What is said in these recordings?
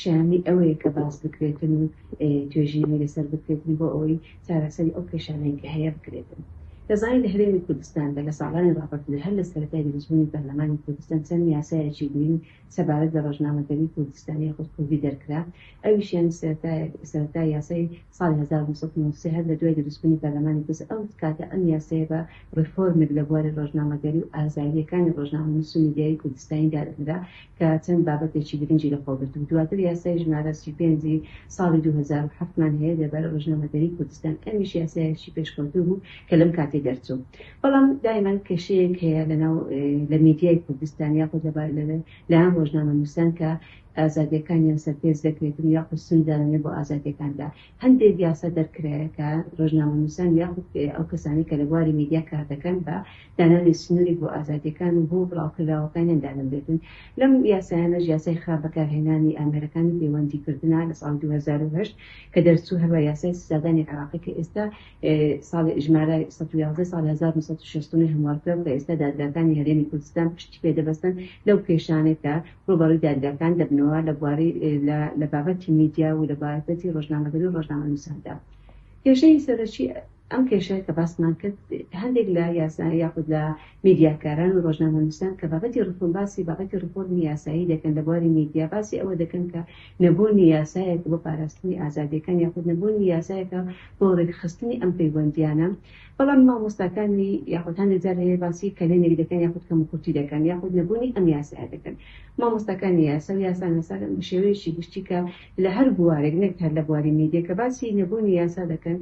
شایانی ئەوەیە کە باس بکرێتن و توێژینەوەی لەسەر بکرێتن بۆ ئەوەی چارەسەری ئەو کێشانەی کە هەیە بکرێتن. دەزانین لە هەرێمی کوردستاندا لە ساڵانی ڕابردوودا هەر لە سەرەتای دروستبوونی پەرلەمانی کوردستان چەند یاسایەکی گرینگ سەبارەت بە ڕۆژنامەگەری کوردستان یاخود کوردی دەرکرا ئەویشیان سەرەتا یاسای ساڵی هەزار و نۆ سەد و نۆ و سێ هەر لە دوای دروستبوونی پەرلەمانی پرس ئەو کاتە ئەم یاسایە بە ڕێفۆرمێک لە بواری ڕۆژنامەگەری و ئازادییەکانی ڕۆژنامەنووس و میدیایی کوردستانی دادەنرا کە چەند بابەتێکی گرنگی لە خۆگرتبوو دواتر یاسای ژمارە سی و پێنج ی ساڵی دوو هەزار و حەفت مان هەیە لەبارەی ڕۆژنامەگەری کوردستان ئەمیش یاسایەکی پێشکەوتوو بوو کە لەم کاتەی دەرچوو بەڵام دایمەن کێشەیەک هەیە لە ناو لە میدیای کوردستان یاخود لە لایەن ڕۆژنامەنووسان کە ئازادیەکانیان سەرپێچ دەکرێتن یاخود سنوردارانە بۆ ئازادیەکاندا هەندێک یاسا دەرکرایە کە رۆژنامەنوسان یاخود ئەو کەسانەی کە لە بواری میدیا کاردەکەن بە دانانی سنورێک بۆ ئازادیەکان و هۆ بڵاوکراوەکانیان دادەنرێتن لەم یاسایانەش یاسای خراپ بەکارهێنانی ئامێرەکانی پەیوەندی کردنە لە ساڵی دوو هەزار و هەشت کە دەرچوو هەروە یاسای سزادانی عێراقی کە ئێستا ساڵ ژمارە سەد و یازدە ساڵی هەزار و نۆ سەد و شەست و نۆ هەموارکراو کە ئێستا دادگاکانی هەرێمی کوردستان پشتی پێدەبەستن لەو کێشانەی کە ڕووبەڕووی دادگاکان دەبنەوە لە بواری لە لە بابەتی میدیا و لە بابەتی ڕۆژنامەگەری و ڕۆژنامەنووساندا. کێشەی سەرەکی ئەم کێشەیە کە باسمان کرد هەندێک لە یاسا یاخود لە میدیاکاران و ڕۆژنامەنووسان کە بابەتی ڕفۆرم باسی بابەتی ڕفۆرمی یاسایی دەکەن لە بواری میدیا باسی ئەوە دەکەن کە نەبوونی یاسایەک بۆ پاراستنی ئازادییەکان یاخود نەبوونی یاسایەکە بۆ ڕێکخستنی ئەم پەیوەندییانە بەڵام مامۆستاکانی یاخود هەندێک جار هەیە باسی کەلێنێک دەکەن یاخود کەموکورتی دەکەن یاخود نەبوونی ئەم یاسایە دەکەن مامۆستاکانی یاسا و یاساناسان بە شێوەیەکی گشتی کە لە هەر بوارێک نەک هەر لە بواری میدیا کە باسی نەبوونی یاسا دەکەن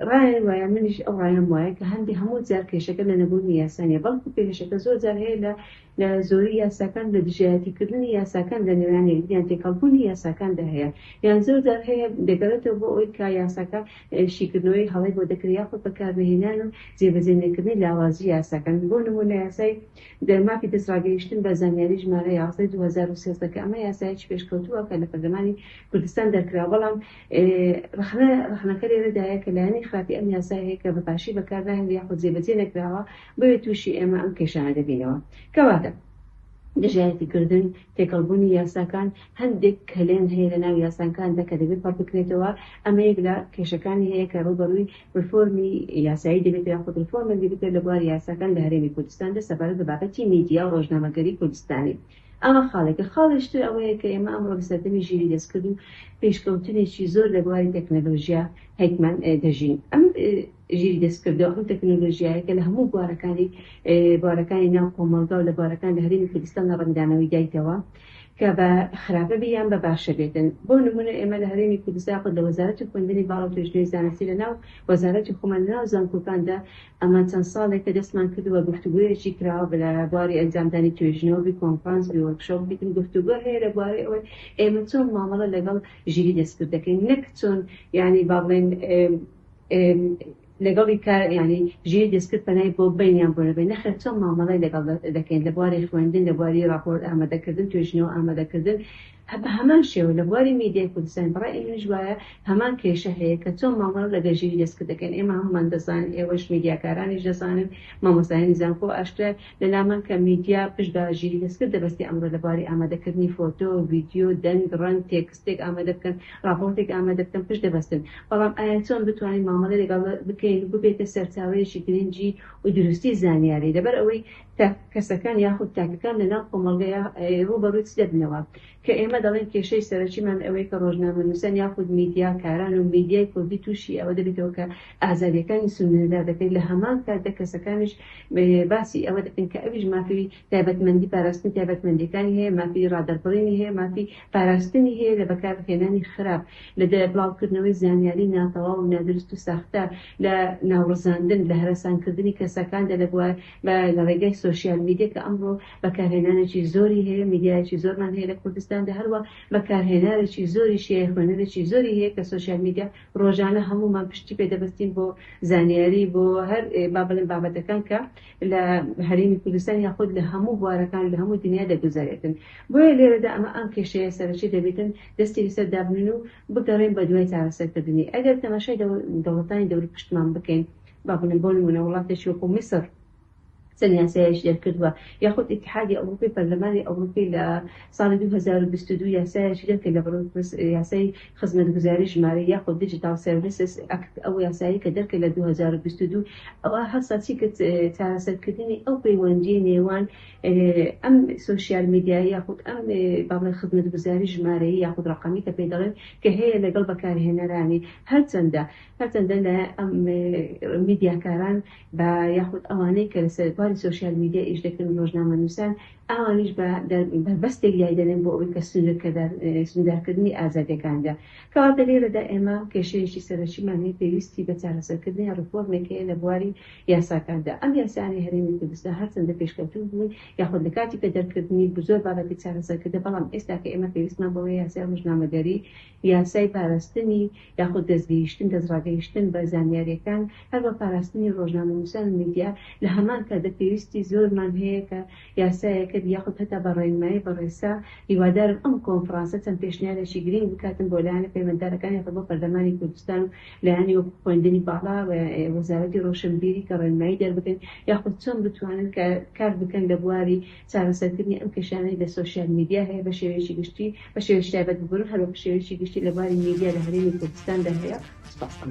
ڕایان وایە منیش ئەو ڕایەم وایە کە هەندێک هەموو جار کێشەکە لە نەبوونی یاسا نیە بەڵکو کێشەکە زۆر جار هەیە لە لە زۆری یاساکان لە دژایەتی کردنی یاساکان لە نێوان یەکدیان تێکەڵبوونی یاساکاندا هەیە یان زۆر جار هەیە دەگەڕێتەوە بۆ ئەوەی کە یاساکە شیکردنەوەی هەڵەی بۆ دەکرێت یاخود بەکارنەهێنان و جێبەجێ نەکردنی لاوازی یاساکان بۆ نموونە یاسای دە مافی دەستڕاگەیشتن بە زانیاری ژمارە یازدە ی دوو هەزار و سێزدە کە ئەمە یاسایەکی پێشکەوتووە کە لە پەرلەمانی کوردستان دەرکرا بەڵام ڕەخنە ڕەخنەکە لێرەدایە کە لایەنی خراپی ئەم یاسایە هەیە کە بە باشی بەکارناهێنرێت یاخود جێبەجێ نەکراوە بۆیە تووشی ئێمە ئەم کێشانە دەبینەوە. کەواتە دژایەتی کردن، تێکەڵ بوونی یاساکان، هەندێک کەلێن هەیە لە ناو یاساکاندا کە دەبێت پەڕ بکرێتەوە، ئەمە یەک لە کێشەکانی هەیە کە ڕووبەڕووی ڕێفۆرمی یاسایی دەبێتەوە یاخود ڕێفۆرمێک دەبێتەوە لە بواری یاساکان لە هەرێمی کوردستاندا سەبارەت بە بابەتی میدیا و ڕۆژنامەگەری کوردستانی. ئەمە خاڵێکە. خاڵێکی تر ئەوەیە کە ئێمە ئەمڕۆ لە سەردەمی ژیری دەستکرد و پێشکەوتنێکی زۆر لە بواری تەکنەلۆژیا هەیتمان دەژین. ئەم. ژیری دەستکردەوە، ئەم تەکنۆلۆژیایە کە لە هەموو بوارەکانی بوارەکانی ناو کۆمەڵگا و لە بوارەکان لە هەرێمی کوردستان لە ڕەنگدانەوەی دایتەوە کە بە خراپە بێ یان بە باشە بێتن، بۆ نموونە ئێمە لە هەرێمی کوردستان یاخود لە وەزارەتی خوێندنی باڵا و توێژینەوەی زانستی لە ناو وەزارەتی خۆمان لە ناو زانکۆکاندا ئەمە چەند ساڵێکە دەستمان کردووە گفتوگۆیەکی کراوە لە بواری ئەنجامدانی توێژینەوە بی کۆنفرانس بی وۆرکشۆپ بیتن گفتوگۆ هەیە لە بوارەی ئەوەی ئێمە چۆن مامەڵە لەگەڵ ژیری دەستکرد دەکەین نەک چۆن یانی با بڵێین لەگەڵی کە یانی ژیر دەستکرد پەنای بۆ بەینیان بۆ نەبەین نەخێر چۆن مامەڵەی لەگەڵ دەکەین لە بواری خوێندن لە بواری ڕاپۆرت ئامادەکردن توێژینەوە ئامادەکردن بە هەمان شێوە لە بواری میدیای کوردستان بە ڕای منیش وایە هەمان کێشە هەیە کە چۆن مامەڵە لەگەڵ ژیری دەستکرد دەکەین ئێمە هەموومان دەزانین ئێوەش میدیاکارانیش دەزانن مامۆستایانی زانکۆ ئاشکرایە لەلامان کە میدیا پشت بە ژیری دەستکرد دەبەستێ ئەمڕۆ لە بواری ئامادەکردنی فۆتۆ ڤیدیۆ دەنگ ڕەنگ تێکست شتێک ئامادە بکەن، ڕاپۆرتێک ئامادە بکەن، پشت دەبەستن. بەڵام ئایا چۆن بتوانین مامەڵەی لەگەڵ بکەین و ببێتە سەرچاوەیەکی گرنگی و دروستی زانیاری، لەبەر ئەوەی تاک کەسەکان یاخود تاکەکان لە ناو کۆمەڵگەیا ڕووبەڕووی چ دەبنەوە؟ کە ئێمە دەڵێین کێشەی سەرەکیمان ئەوەیە کە ڕۆژنامەنووسان یاخود میدیا کاران و میدیای کوردی تووشی ئەوە دەبێتەوە کە ئازادیەکانی سنووردار دەکرێت لە هەمان کاتدا کەسەکانیش باسی ئەوە دەکەن کە ئەویش مافی تایبەتمەندی پاراستنی تایبەتمەندیەکانی هەیە، مافی ڕادەربڕینی هەیە، مافی پاراستنی هەیە لە بەکارهێنانی خراپ، لە بڵاوکردنەوەی زانیاری ناتەواو و نادروست و ساختە، لە ناوڕزاندن، لە هەرەسانکردنی کەسەکاندا لە لە ڕێگای سۆشیال میدیا کە ئەمڕۆ بەکارهێنانێکی زۆری هەیە، میدیایەکی زۆرمان هەیە لە کوردستاندا، هەروە بەکارهێناوێکی زۆریشی هەیە، خوێنەرێکی زۆری هەیە کە سۆشیال میدیا ڕۆژانە هەموومان پشتی پێ دەبەستین بۆ زانیاری، بۆ هەر با بڵێم بابەتەکان کە لە هەرێمی کوردستان یاخود لە هەموو بوارەکان لە هەموو دنیا دەگوزەرێتن بۆیە لێرەدا ئەمە ئەم کێشەیە سەرەکی دەبێتن دەستی لەسەر دابنێن و بگەڕێن بە دوای چارەسەرکردنی ئەگەر تەماشای دەوڵەتانی دەوری پشتمان بکەین با بڵێم بۆ نموونە وڵاتێکی وەکو میسر چەند یاسایەکی دەرکردووە یاخود ئیتحادی ئەوروپی پەرلەمانی ئەوروپی لە ساڵی دوو هەزار و بیست و دوو یاسایەکی دەرکرد لە بەڕ یاسای خزمەتگوزاری ژمارە یاخود Digital Services Act، ئەو یاسایەی کە دەرکرد لە دوو هەزار و بیست و دوو، ئەوا هەستا چی کرد چارەسەرکردنی ئەو پەیوەندییە نێوان ئەم سۆشیال میدیایە یاخود ئەم با بڵێن خزمەتگوزاری ژمارەیی یاخود ڕەقەمی کە پێی دەڵێن کە هەیە لەگەڵ بەکارهێنەرانی هەرچەندە هەرچەندە لە ئەم میدیاکاران بە یاخود ئەوانەی کە لەسەر باری سۆشیال میدیا ئیش دەکەن و ڕۆژنامەنووسان ئەوانیش بە بەربەستێک لای دەنێن بۆ ئەوەی کە سنوورکردار سنووردارکردنی ئازادییەکان بێ. کەواتە لێرەدا ئێمە کێشەیەکی سەرەکیمان هەیە پێویستی بە چارەسەرکردنی ڕێفۆرمێک هەیە لە بواری یاساکاندا. ئەم یاسایانەی هەرێمی کوردستان هەرچەندە پێشکەوتوو بوون یاخود لە کاتی پێدەرکردنی زۆر بابەتی چارەسەر کردە بەڵام ئێستاکە ئێمە پێویستمان بەوەیە یاسای ڕۆژنامەگەری یاسای پاراستنی یاخود دەستگەیشتن، دەستڕاگەیشتن بە زانیاریەکان، هەروە پاراستنی ڕۆژنامەنووسان و میدیا، لە هەمان کاتدا پێویستی زۆرمان هەیە کە یاسایەکەت یاخود هەتا بە ڕێنمایی بەڕێسا، هیوادارم ئەم کۆنفڕانسە چەند پێشنیارێکی گرینگ بکاتن بۆ لایەنە پەیوەنددارەکان یاخود بۆ پەرلەمانی کوردستان و لایەنی وەکو خوێندنی باڵا و وەزارەتی ڕۆشنبیری کە ڕێنمایی دەربکەن یاخود چۆن بتوانن کار بکەن لە بواری چارەسەرکردنی ئەم کێشانەی لە سۆشیال میدیا هەیە بە شێوەیەکی گشتی، بە شێوەیەکی تایبەت ببن و هەروەک شێوەیەکی گشتی لە بواری میدیا لە هەرێمی کوردستاندا هەیە. سوپاستان.